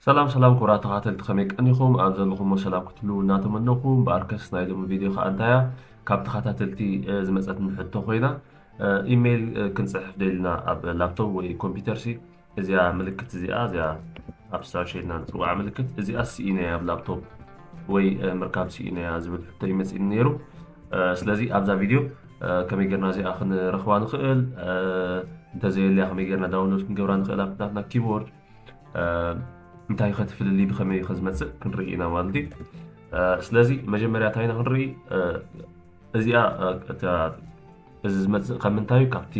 ሰላም ሰላም ክቡራት ተከታተልቲ ከመይ ቀኒኩም ኣብ ዘለኩሞ ሰላም ክትህልዉ እናተመነኩ እምበኣርከስ ናይ ሎሚ ቪድዮ ከኣ እንታይ እያ ካብ ተከታተልቲ ዝመጸትኒ ሕቶ ኮይና ኢሜይል ክንጽሕፍ ደሊና ኣብ ላፕቶፕ ወይ ኮምፒውተር ሲ እዚኣ ምልክት እዚኣ እዚኣ ኣብ ሰርች ኢልና ንጽውዓ ምልክት እዚኣ ስኢነያ ኣብ ላፕቶፕ ወይ ምርካብ ስኢነያ ዝብል ሕቶ ይመጽእኒ ነይሩ ስለዚ ኣብዛ ቪድዮ ከመይ ጌርና እዚኣ ክንረክባ ንክእል እንተዘየልያ ከመይ ጌርና ዳውንሎድ ክንገብራ ንክእል ኣብናትና ኪቦርድ እንታይ ከ እቲ ፍልልይ ብከመይ ከ ዝመፅእ ክንርኢ ኢና ማለት እዩ ስለዚ መጀመርያ እንታይ ኢና ክንርኢ እዚኣ እዚ ዝመፅእ ካብ ምንታይ ካብቲ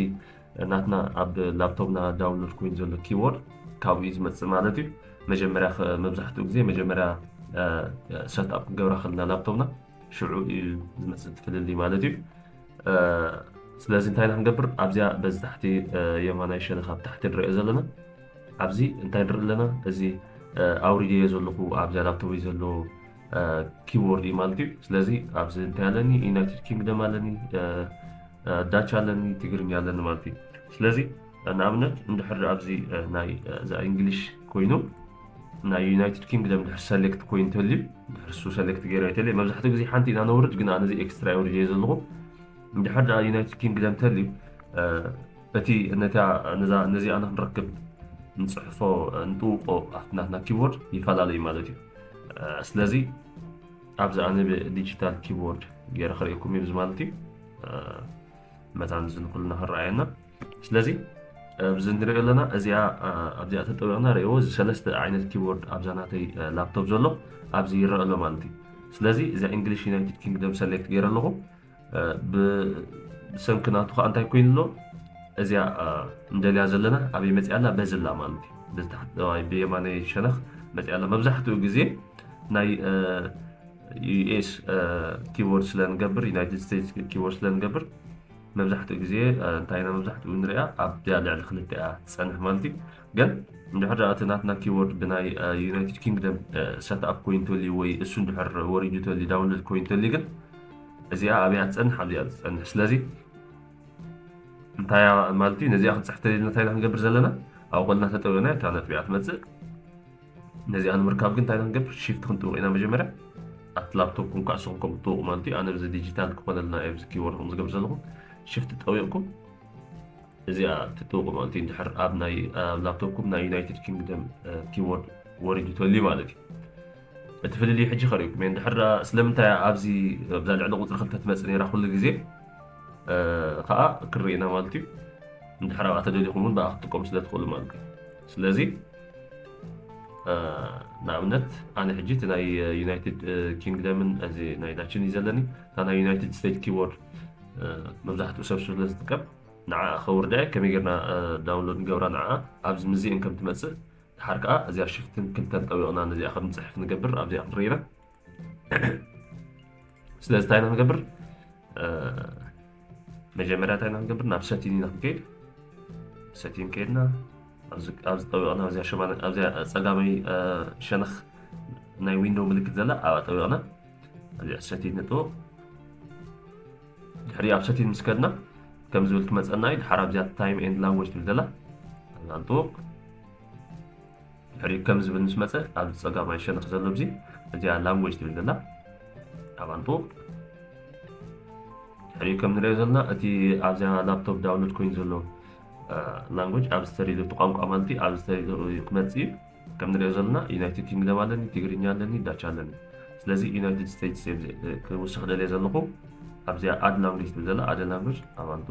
ናትና ኣብ ላፕቶፕና ዳውንሎድ ኮይኑ ዘሎ ኪቦርድ ካብኡ ዝመፅእ ማለት እዩ መጀመርያ መብዛሕትኡ ግዜ መጀመርያ ሰትኣፕ ክንገብራ ከለና ላፕቶፕና ሽዑ እዩ ዝመፅእ እቲ ፍልልይ ማለት እዩ። ስለዚ እንታይ ኢና ክንገብር ኣብዚኣ በዚ ታሕቲ የማናይ ሸነኽ ኣብ ታሕቲ ንሪኦ ዘለና ኣብዚ እንታይ ንርኢ ኣለና እዚ ኣውሪደዮ ዘለኹ ኣብዛ ላፕቶፕ ዘሎ ኪቦርድ እዩ ማለት እዩ ስለዚ ኣብዚ እንታይ ኣለኒ ዩናይትድ ኪንግደም ኣለኒ ዳች ኣለኒ ትግርኛ ኣለኒ ማለት እዩ ስለዚ ንኣብነት እንድሕር ኣብዚ ናይ እዛ እንግሊሽ ኮይኑ ናይ ዩናይትድ ኪንግደም ድሕር ሰሌክት ኮይኑ ተልዩ ድሕር እሱ ሰሌክት ገይረ ተልዩ መብዛሕትኡ ግዜ ሓንቲ ኢና ነውርድ ግን ኣነዚ ኤክስትራ የውርድ እየ ዘለኹ እንድሕር ድኣ ዩናይትድ ኪንግደም ተልዩ እቲ ነታ ነዚኣ ንክንረክብ ንፅሕፎ ንጥውቆ ኣብቲ ናትና ኪቦርድ ይፈላለ እዩ ማለት እዩ ስለዚ ኣብዚ ኣነ ብዲጂታል ኪቦርድ ገይረ ክርእየኩም እዩ ማለት እዩ መታን እዚ ንኩልና ክረኣየና ስለዚ ኣብዚ ንሪኦ ኣለና እዚኣ ኣብዚኣ ተጠቢቕና ርእዎ እዚ ሰለስተ ዓይነት ኪቦርድ ኣብዛ ናተይ ላፕቶፕ ዘሎ ኣብዚ ይረአ ኣሎ ማለት እዩ ስለዚ እዚ እንግሊሽ ዩናይትድ ኪንግደም ሰሌክት ገይረ ኣለኹ ብሰንኪ ናቱ ከዓ እንታይ ኮይኑ ኣሎ እዚኣ እንደልያ ዘለና ኣበይ መፅኣ ኣላ በዚ ኣላ ማለት እዩ ብየማነይ ሸነኽ መፅኣ ኣላ መብዛሕትኡ ግዜ ናይ ዩኤስ ኪቦርድ ስለ ንገብር ዩናይትድ ስቴትስ ኪቦርድ ስለ ንገብር መብዛሕትኡ ግዜ እንታይ ኢና መብዛሕትኡ ንሪኣ ኣብያ ልዕሊ ክልተ እያ ትፀንሕ ማለት እዩ ግን እንድሕር እቲ ናትና ኪቦርድ ብናይ ዩናይትድ ኪንግደም ሰትኣፕ ኮይኑ ተልዩ ወይ እሱ እንድሕር ወሪዱ ተልዩ ዳውንሎድ ኮይኑ ተልዩ ግን እዚኣ ኣብያ ትፀንሕ ኣብዚኣ ትፀንሕ ስለዚ እንታይ ማለት እዩ ነዚኣ ክንፅሕተልና እንታይ ኢና ክንገብር ዘለና ኣብ ቆልና ተጠዊና እታ ነጥቢያ ትመፅእ ነዚኣ ንምርካብ ግን እንታይ ኢና ክንገብር ሺፍት ክንጥውቕ ኢና መጀመርያ ኣብቲ ላፕቶፕኩም ከዓ ንስኹም ከምኡ ትጥውቑ ማለት እዩ ኣነ እዚ ዲጂታል ክኾነልና እዩ ኣብዚ ኪቦርድ ከም ዝገብር ዘለኹ ሽፍት ጠዊቕኩም እዚኣ ትጥውቑ ማለት እዩ እንድሕር ኣብ ናይ ኣብ ላፕቶፕኩም ናይ ዩናይትድ ኪንግደም ኪቦርድ ወሪዱ ተልዩ ማለት እዩ እቲ ፍልልይ ሕጂ ከርእኩም እየ እንድሕር ስለምንታይ ኣብዚ ብዛ ልዕሊ ቁፅሪ ክልተ ትመፅእ ነራ ኩሉ ግዜ ከዓ ክንርኢ ኢና ማለት እዩ እንድሕር ኣብኣ ተደሊኹም እውን ብኣ ክትጥቀሙ ስለ ትኽእሉ ማለት እዩ ስለዚ ንኣብነት ኣነ ሕጂ እቲ ናይ ዩናይትድ ኪንግደምን እዚ ናይ ዳችን እዩ ዘለኒ እታ ናይ ዩናይትድ ስቴት ኪቦርድ መብዛሕትኡ ሰብ ስለ ዝጥቀም ንዓ ከውርዳ ከመይ ጌርና ዳውንሎድ ንገብራ ንዓ ኣብዚ ምዚኤን ከም ትመፅእ ድሓር ከዓ እዚኣ ሽፍትን ክልተን ጠቢቕና ነዚኣ ከም ንፅሕፍ ንገብር ኣብዚኣ ክንርኢና ስለዚ እንታይ ኢና ንገብር መጀመርያ እንታይ ኢና ንገብር ናብ ሰቲን ኢና ክንከይድ ሰቲን ከይድና ኣብዚ ጠቢቕና ኣብዚያ ፀጋመይ ሸነኽ ናይ ዊንዶው ምልክት ዘላ ኣብኣ ጠቢቕና እዚኣ ሰቲን ንጥበቕ ድሕሪ ኣብ ሰቲን ምስ ከድና ከም ዝብል ትመፀና እዩ ድሓር ኣብዚኣ ታይም ኤንድ ላንጎጅ ትብል ዘላ ኣብኣ ንጥበቕ ድሕሪኡ ከም ዝብል ምስ መፀ ኣብዚ ፀጋማይ ሸነኽ ዘሎ ኣብዚ እዚኣ ላንጎጅ ትብል ዘላ ኣብኣ ንጥውቕ ድሕሪኡ ከም ንሪኦ ዘለና እቲ ኣብዚኣ ላፕቶፕ ዳውንሎድ ኮይኑ ዘሎ ላንጎጅ ኣብ ዝተሪሉ እቲ ቋንቋ ማለት እዩ ኣብ ዝተሪሉ ክመፅእ እዩ ከም ንሪኦ ዘለና ዩናይትድ ኪንግደም ኣለኒ ትግርኛ ኣለኒ ዳቻ ኣለኒ ስለዚ ዩናይትድ ስቴትስ ክውስኽ ደልየ ዘለኹ ኣብዚኣ ኣድ ላንጉጅ ትብል ዘላ ኣደ ላንጉጅ ኣባንጡ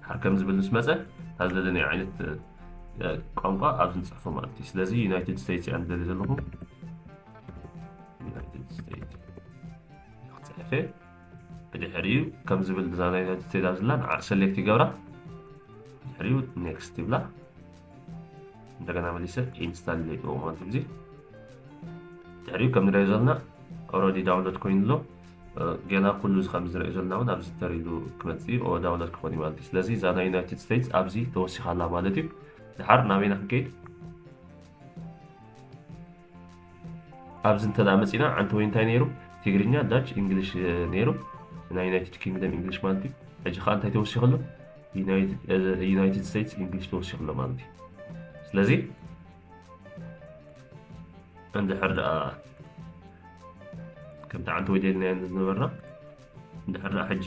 ሃርከም ዝብል ምስ መፀ እታ ዝደለናዮ ዓይነት ቋንቋ ኣብዚ ንፅሕፎ ማለት እዩ ስለዚ ዩናይትድ ስቴትስ እያ ንደሊ ዘለኹ ዩናይትድ ስቴትስ ክፅሕፈ ብድሕሪኡ ከም ዝብል እዛ ናይ ዩናይትድ ስቴትስ ኣብ ዝላ ንዓ ሰሌክት ይገብራ ድሕሪኡ ኔክስት ይብላ እንደገና መሊሰ ኢንስታል ይገብሮ ማለት ግዜ ድሕሪኡ ከም ንሪኦ ዘለና ኦረዲ ዳውንሎድ ኮይኑ ኣሎ ጌና ኩሉ እዚ ከምዚ ንሪኦ ዘለና ውን ኣብዚ ተሪዱ ክመጽእ ዩ ኦወ ዳውለር ክኾን ዩ ማለት ዩ ስለዚ እዛ ናይ ዩናይትድ ስተይትስ ኣብዚ ተወሲኻ ኣላ ማለት ዩ ድሓር ናበይ ኢና ክንከይድ ኣብዚ እንተ መፂና ዓንተወይ እንታይ ነይሩ ትግርኛ ዳች እንግሊሽ ነይሩ ናይ ዩናይትድ ኪንግደም እንግሊሽ ማለት እዩ ሕጂ ከዓ እንታይ ተወሲኹ ኣሎ ዩናይትድ ስቴትስ እንግሊሽ ተወሲኹ ኣሎ ማለት እዩ ስለዚ እንድሕር ደኣ ከምቲ ዓንቲ ወዲልናዮ ዝነበርና እንድሕር ደኣ ሕጂ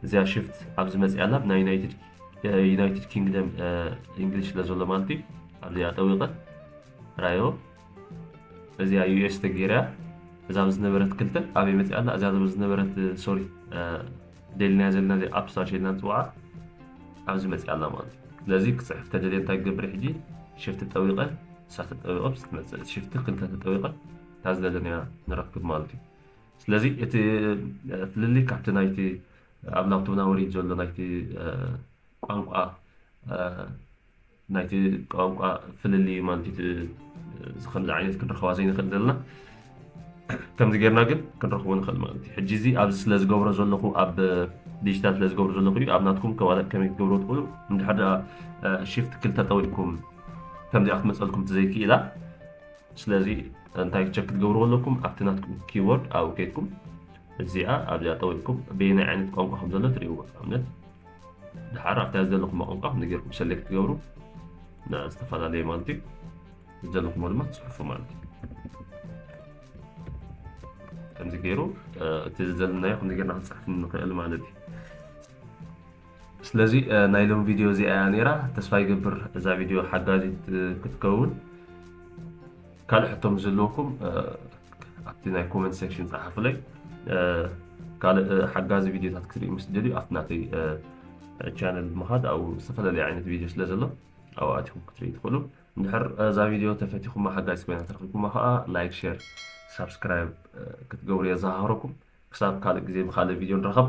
እዚኣ ሽፍት ኣብ ዝመፅኣላ ናይ ዩናይትድ ኪንግደም እንግሊሽ ስለ ዘሎ ማለት እዩ ኣብዚኣ ጠዊቐ ራዮ እዚኣ ዩኤስ ተገይራ እዛ ዝነበረት ክልተ ኣበይ መፅኣላ እዛ ዝነበረት ሶሪ ደሊናያ ዘለና እዚ ኣፕ ስታርሽ ኢልና ንፅውዓ ኣብዚ መፂኣ ኣላ ማለት እዩ ስለዚ ክፅሕፍ ተደልየ እንታይ ክገብር ሕጂ ሽፍቲ ጠዊቐ ንሳ ተጠዊቐ ምስ ትመፅእ ሽፍቲ ክልተ ተጠዊቐ እታ ዝደለናያ ንረክብ ማለት እዩ ስለዚ እቲ ፍልልይ ካብቲ ናይቲ ኣብ ላፕቶፕና ወሪድ ዘሎ ናይቲ ቋንቋ ናይቲ ቋንቋ ፍልልይ ማለት እዩ እዚ ከምዚ ዓይነት ክንረኽባ ዘይንኽእል ዘለና ከምዚ ጌርና ግን ክንረኽቦ ንኽእል ማለት እዩ ሕጂ እዚ ኣብዚ ስለ ዝገብሮ ዘለኹ ኣብ ዲጂታል ስለ ዝገብሮ ዘለኹ እዩ ኣብ ናትኩም ከማለት ከመይ ክትገብሮ ትኽእሉ እንድሕር ደኣ ሽፍት ክልተ ጠዊቕኩም ከምዚኣ ክትመፀልኩም ትዘይክኢላ ስለዚ እንታይ ቸክ ክትገብርዎ ኣለኩም ኣብቲ ናትኩም ኪቦርድ ኣብኡ ከይድኩም እዚኣ ኣብዚኣ ጠዊቕኩም በየናይ ዓይነት ቋንቋ ከም ዘሎ ትርእይዎ ኣብነት ድሓር ኣብታ ዝደለኹሞ ቋንቋ ከም ጌርኩም ሰሌክት ትገብሩ እና ዝተፈላለየ ማለት እዩ ዝደለኹሞ ድማ ትፅሑፉ ማለት እዩ ከምዚ ገይሩ እቲ ዘለናዮ ከምዚ ጌርና ክንፅሕፍ ንኽእል ማለት እዩ ስለዚ ናይ ሎም ቪድዮ እዚኣ እያ ነይራ ተስፋ ይገብር እዛ ቪድዮ ሓጋዚት ክትከውን ካልእ ሕቶ ምስ ዘለወኩም ኣብቲ ናይ ኮመንት ሴክሽን ጸሓፉለይ ካልእ ሓጋዚ ቪድዮታት ክትሪኡ ምስ ደልዩ ኣብቲ ናተይ ቻነል ብምኻድ ኣብኡ ዝተፈላለዩ ዓይነት ቪድዮ ስለ ዘሎ ኣብኡ ኣቲኹም ክትሪኡ ትኽእሉ እንድሕር እዛ ቪድዮ ተፈቲኹማ ሓጋዚ ኮይና ተረኪብኩማ ከዓ ላይክ ሼር ሳብስክራይብ ክትገብሩ የዘኻኽረኩም ክሳብ ካልእ ግዜ ብካልእ ቪድዮ ንራኸብ